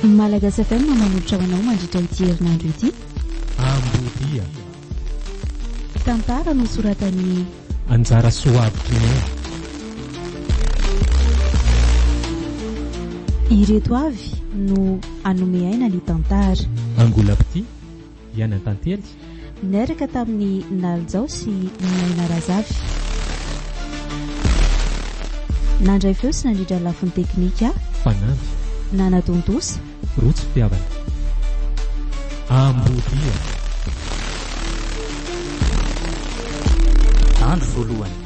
Malagasy FM manolotra ho anao mandritra ity herinandro ity. Ambodia. Tantara nosoratan'ny Anjara Soavitry ny Ireto avy no hanome aina ny tantara. Angolapity. Diana Tantely. Niaraka tamin'i Nalijao sy Naina Razafy. Nandray feo sy nandrindra ny lafiny teknika. Fanamby. Nanadondosa. Rojo fitiavana. Ambodia. Andro voalohany.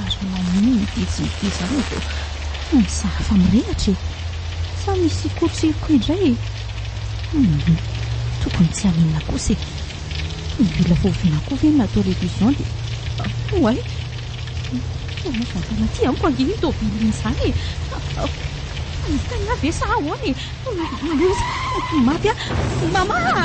Ary maninona ity tsy miteza roa vao tena sahy efa mirehatra e! Sa misy kotriko indray e! Humm! Tokony tsy haninona kosa e! Mila voaviana koa ve ny natao révision dia oay! Inona moa izany tena aty amiko ange iny tôbily iny izany e! Mahita ny ahy ve sa ahoana e! Aleo izy mety ho maty aho! Mama a!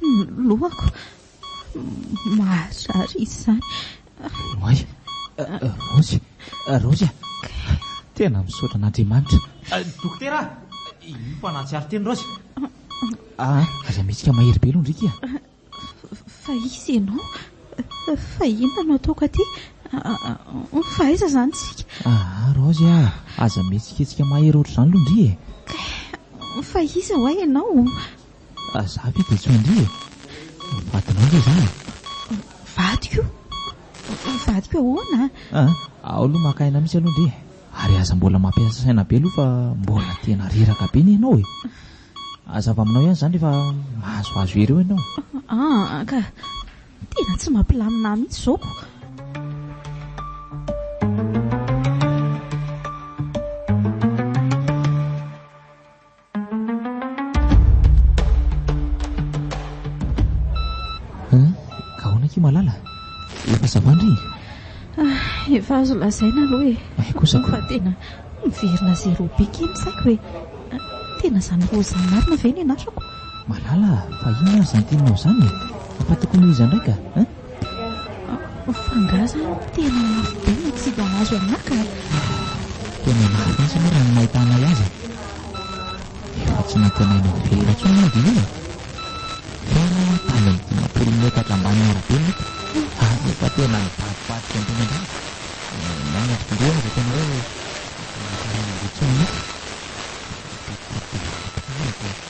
Ny lohako. Mahazary izany. Oay. Raozy. Raozy a. Tena misaotra an'Andriamanitra. Dokotera, io fa nahatsiaro teny Raozy. Ah, aza mihetsika mahery be aloha ndriky a. Fa izy ianao. Fa inona no ataoko aty? Fa aiza izany isika? Ah, Raozy a, aza mihetsiketsika mahery ohatr'izany aloha ndry e. Fa iza ho'a ianao? Ary za ve dia tsy ho indriva? Ny vadinao ve izany e? Vadiko? Vadiko ahoana? Aa, ao aloha maka aina mihitsy aloha ndry e! Ary aza mbola mampiasa saina be aloha fa mbola tena reraka be ny anao e! Hazava aminao ihany izany rehefa mahazoazo ireo ianao. Aa, ka! Tena tsy mampilamina ahy mihitsy izao ko! Ahoana ki Malala? Efa ça va ndry? Ah, efa azo lazaina aloha e. Ay eh, kosa ko. Fa tena miverina zéro be kely ny saiko e. Ah, tena zany roza marina ve ny anarako? Malala, fa inona ary zany teninao zany? Fa tokony ho iza ndray ka? Fa angaha zany tena mafy be ny tsy hita maso aminà ka? Tena mafy mihitsy aloha raha ny mahita anay azy e. Efa tsy nantenaina ho velona intsony manko io e. Tena tany amin'ny dimampolo metatra ambanin'ny arabe no hita ary efa tena nivadibadika ambony ambany. Maina ry zareo aza tena hoe efa tsy mankarena an'ireo intsony mihitsy. Tena be dia be tokoa ny mpivady tao.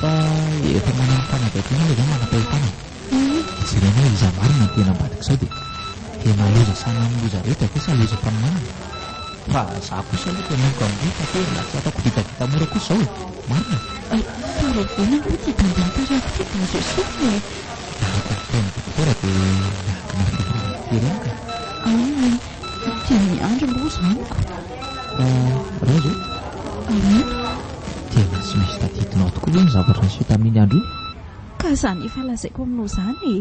Fa efa manana fanadihadiana ve zao manam-pahefana e? Jerena hoe iza marina no tena ambadik'izao dia tena loza sanan'ny loza rehetra ve sa loza mpaminany? Fa za kosa aloha tena oko amindreo fa tena tsy ataoko vitavita mora kosa izao e! Marina e! Fa raha izay manko ity bandy mitarihako ity dia azo esorina e! Araka ny fitenin'ny dokotera dia miankina amin'ny fiafarany firenena ka! Aono e! Tena miandry aloha za amiko! Raiso Tena tsy misy tadidinao tokoa ve ny zavatra niseho tamin'iny andro iny? Ka izany efa lazaiko aminao izany e!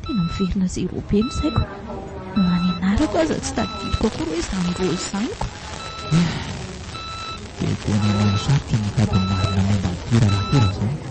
Tena miverina zéro be ny saiko. Na ny anarako aza tsy tadidiko akory hoe izany Rose izany ko! Dia tena mahasarika ny hitady ny marina momba an'ity raharaha ity raha izany.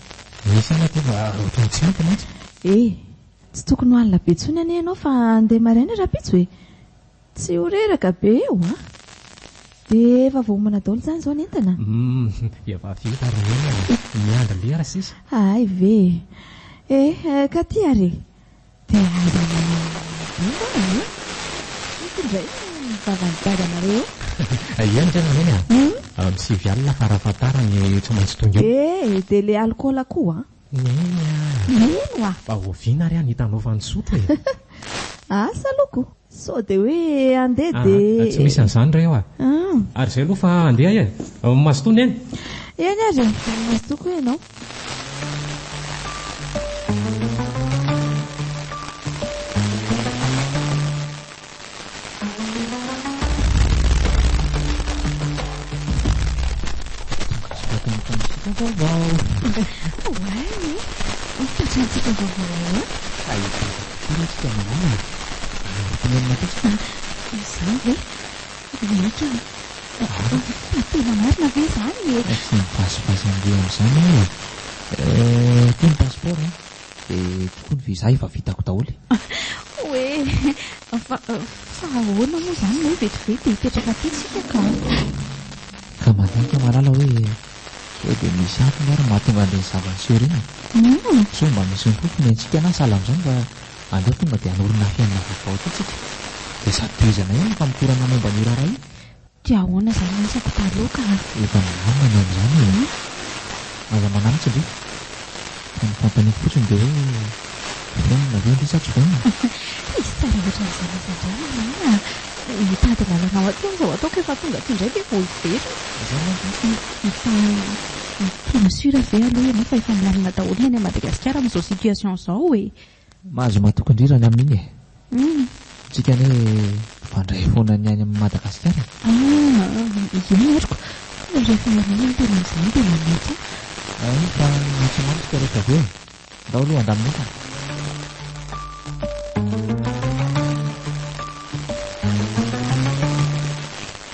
Ny saina tonga ohatran'ny tsy ampy mantsy. Eh! Tsy tokony ho alina be intsony anie ianao fa handeha maraina rahampitso e! Tsy ho reraka be eo an! Dia efa voaomana daholo izany izao ny entana? Hum! Efa vita ary ny olona e! Miandry lera sisa. Hay ve e! Eh! Ka ty ary e! Dia aza manao izay hono e! Misy indray no mivava ny dadanareo eo. Aia ny tena neny a? Amin'ny sivy alina fara fatara ny tsy maintsy tonga eo. Eh, dia le alcool koa an! Neny a! Neny oa! Fa oviana ary an hitanao fa nisotro e? Asa aloha ko! Sao dia hoe andeha dia. Ah, tsy misy an'izany re eo ah. Ah. Ary izay aloha fa andeha e. Ao Mazotoa neny. Eny ary, ao Mazotoa koa ianao. Ary ny fitiavan'olona? Ary tena olona kosa ve izy? Izany ve? Tena ekena e! Fa fa tena marina ve izany e? Fa tsy mibasibasy an'ireo amin'izany aho e! Eh, ity ny passeport an! Dia tokoa ny visa efa vitako daholo e! Hoe, fa fa ahoana moa izany ilay hoe vetivety dia hipetraka aty isika ka? Ka mandinika malala hoe. Sao dia misy antony ary mahatonga an'ireny zava-niseho ireny e? Sao mba misy ny fofony antsika na sahala amin'izany mba aleo tonga dia hanorina fiainana vaovao aty tsika dia sady tohizana ihany ny famotorana momba an'io raharaha io. Dia ahoana izany ny asako taloha ka? Efa milamina ny amin'izany e! Aza mananatra ve? Fa ny fanontaniako fotsiny dia hoe vonona ve indry sa tsy vonona? Izy tsara loatra amin'izany izy indray marina a! Hitady lalana ho atsy aho izao ataoko efa tonga aty indray ve vao hiverina? Izany manko no tiako. Efa efa sûr ve aloha ianao fa efa milamina daholo ny any Madagasikara amin'izao situation izao e? Mahazo matokondrirana amin'iny e. Tsika anie mpifandray foana ny any amin'ny Madagasikara e. Ah, eny aroko, fa rehefa ianao no tena amin'izany dia manetsy ahy. Eny fa antso mamy tsika rehetra avy eo e. Ndao aloha handamina entana.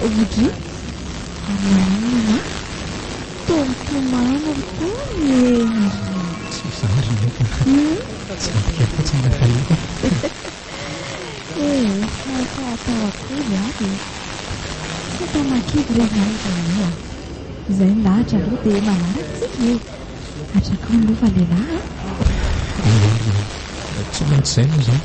Rudy, ary maninona e? Toa mitomany ry tany e! Tsy mizara ry naka a! Tsy adika fotsiny ilay fahita e! Eh, fa atao akory ary e! Tsy atanà kivy re izany ry Rami a! Izay milahatra aloha dia manaraka isika e! Hatrakao ny lova lehilahy a! Eny ary e! Tsy maintsy izay moa izany!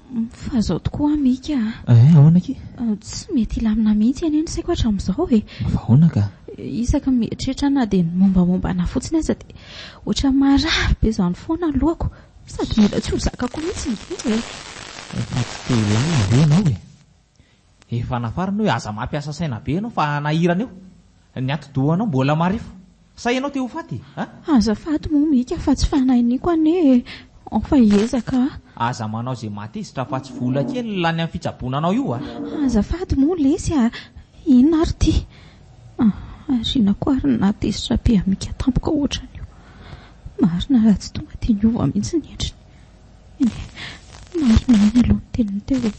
Fa zao tokoa an Mika a! Eh, ahoana aky? Tsy mety hilamina mihitsy anie ny saiko hatramizao e! Fa ahoana ka? Isaky ny mieritreritra aho na dia ny mombamomba anah fotsiny aza dia ohatran'ny marary be izany foana ny lohako sady mila tsy ho zakako mihitsy ny tena e! Fa tsy te hilamina ve ianao e? Efa nafarana hoe aza mampiasa saina be ianao fa hanahirana eo ny atidohanao mbola marefo. Sa ianao te ho faty a? Azafady moa Mika fa tsy fanahy niko anie e! Fa hiezaka aho. Aza manao izay mahatezitra fa tsy vola kely lany amin'ny fitsaboana anao io a! Azafady moa lesy a! Inona ary ity? Aoriana koa ary ny nahatezitra be an'i Mika tampoka ohatran'io. Marina raha tsy tonga dia niova mihitsy ny endriny. Marina ihany aloha ny teniny teo e.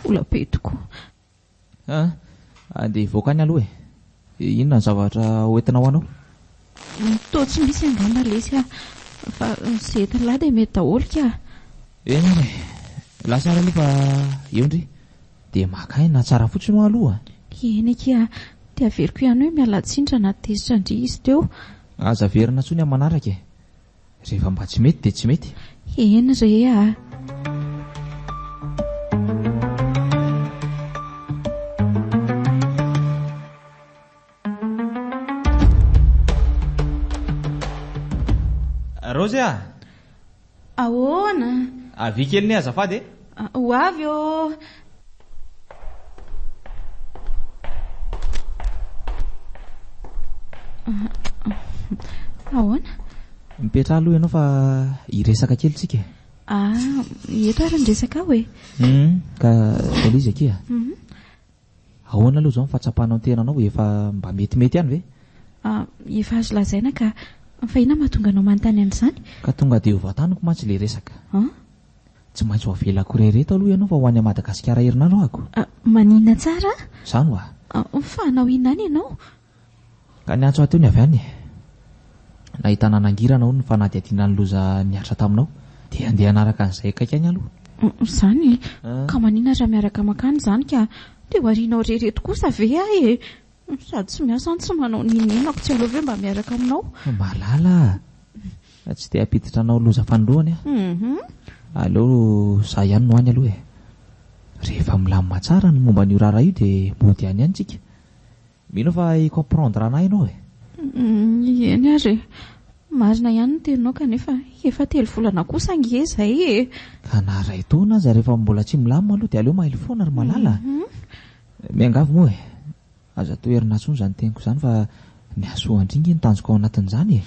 Vola be tokoa. Andeha hivoaka any aloha e. Inona ny zavatra hoentinao anao? Toa tsy misy angamba lesy a. Fa izay entin'lah dia mety daholo ka. Eny ary e. Lasa ary aloha fa eo ndry. Dia maka aina tsara fotsiny hoa aloha. Eny akia a. Dia averiko ihany hoe mialatsiny raha nahatezitra ndry izy teo. Aza averina intsony amin'ny manaraka e. Rehefa mba tsy mety dia tsy mety e. Eny re a! Raozy a! Ahoana? Avia kely anie azafady e! Ho avy ô! Ahoana? Mipetraha aloha ianao fa hiresaka kely tsika. Ah, eto ary ny resaka aho e. Hum, ka taiza izy akia? Mhm. Ahoana aloha izao ny fahatsapanao ny tenanao? Efa mba metimety ihany ve? Ah, efa azo lazaina ka. Fa inona no mahatonga anao manontany an'izany? Ka tonga dia ho vataniko mantsy ilay resaka. An? Tsy maintsy ho avelako irery eto aloha ianao fa ho any à Madagasikara herinandro aho ko. Ah, maninona tsara? Izany hoa. Ah, fa hanao inona any ianao? Ka niantso ahy teo ny avy any e! Nahitana nangirana hono ny fanadihadiana ny loza nihatra taminao. Dia andeha hanaraka an'izay akaiky any aloha. Izany e! Ka maninona raha miaraka mankany izany ka dia ho arianao irery eto kosa ve aho e! Sady tsy miasa no tsy manao n'inon'inona ko tsy aleo ve mba miaraka aminao? Malala a! Tsy te hampiditra anao loza fanoloany aho. Aleo izaho ihany no any aloha e! Rehefa milamina tsara ny momba an'io raharaha io dia mody any ihany tsika. Mino fa i comprendre anay ianao e. Eny ary e. Marina ihany ny teninao kanefa efa telo volana kosa ange izay e. Ka na iray taona aza rehefa mbola tsy milamina aloha dia aleo mailo foana ry malala a. Miangavy moa e. Aza toherina intsony izany teniko izany fa ny hasoa an-dry nge no tanjoko ao anatin'izany e.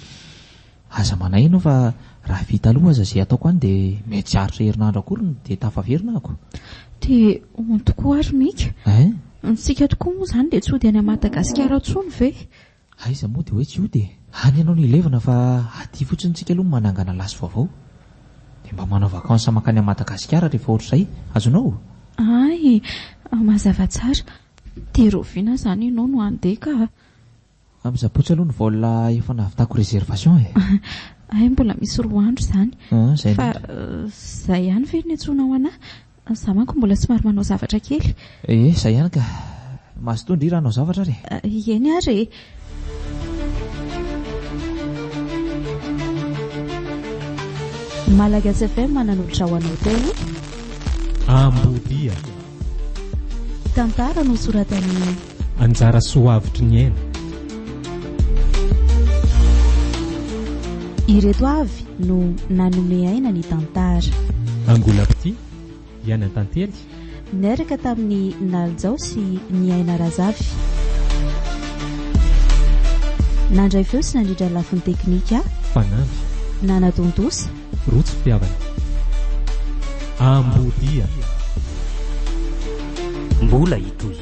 Aza manahy ianao fa raha vita aloha aza izay ataoko any dia mety tsy haharitra herinandro akory dia tafaverina ako. Dia hono tokoa ary Mika. Hein? Ny tsika tokoa moa izany dia tsy hody any Madagasikara intsony ve? Aiza moa dia hoe tsy hody e. Any ianao no hilevina fa aty fotsiny tsika aloha no manangana lasy vaovao. Dia mba manao vacances mankany Madagasikara rehefa ohatr'izay. Azonao? Hay! Mazava tsara. Dia rahoviana izany ianao no handeha ka? Amin'ny Sabotsy aloha ny vol efa nahavitako reservation e. Hay mbola misy roa andro izany. Fa izay ihany ve no niantsoanao anah? Za manko mbola somary manao zavatra kely. Ee, izay ihany ka. Mazotoa ndry raha hanao zavatra ary e. Eny ary e. Malagasy FM nanolotra ho anao teo. Ambodia. Tantara nosoratan'i. Anjara soa avotry ny aina. Ireto avy no nanome aina ny tantara. Angolapti, Yana Tantely. Niaraka tamin'i Nalijao sy Niaina Razafy. Nandray feo sy nandrindra lafiny teknika. Fanamby. Nanatontosa. Rojo fitiavana. Ambodia. Mbola hitohy.